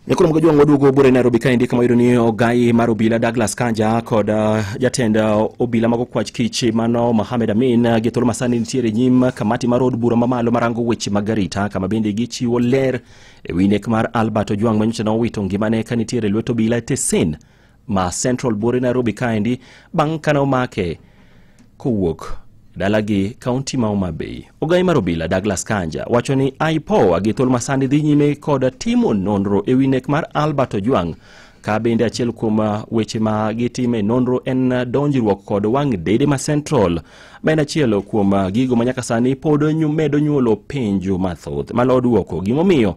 Nikolo mgojo wangu wadugu bure Nairobi kaendi kama yudo ni ogai mar obila Douglas Kanja kod uh, jatend uh, obila mago kwach kichi mano Mohamed Amin uh, gitolo masani nitiere nyim kamati mar od bura mamalo marango weche mag arita kama bende gichiwo ler e wi nek mar Albert Ojwang' manyocha ne owito ngimane ka nitiere lwet obila e tesen ma Central Bore Nairobi kaendi bang' kane omake kowuok dalagi kaunti ma Homa Bay. Ogai mar obila Douglas Kanja wacho ni IPOA gi thuol masani dhi nyime kod timo nonro e wi nek mar Albert Ojwang' ka bende achiel kuom uh, weche ma gitime nonro en uh, donjruok kod wang' dede ma Central ma en achiel kuom uh, gigo ma nyaka sani pod nyu- medo nyuolo penjo mathoth malodwoko gimomiyo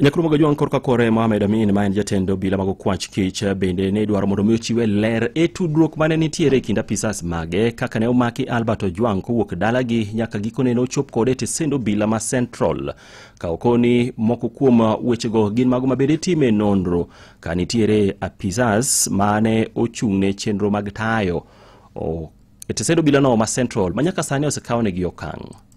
Nyakrumo Gajwang' korka kore Mohamed Amin ma en jatend obila mag okwach kich bende ne idwaro mondo mi ochiwe ler e tudruok mane nitiere e kind apisas mage kaka ne omaki Albert Ojwang' kowuok dalagi nyaka gikone ne ochop kode e tesend obila ma Central. Ka okoni moko kuom wechego gin mago mabende itime nonro ka nitiere apisas mane ochung' ne chenro mag tayo o- e tesend obilano ma Central ma nyaka sani osekawnegi okang'.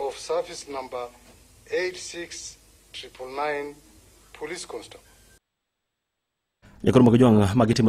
of service number 86999 police constable. Jakor Mogejwang' magitimo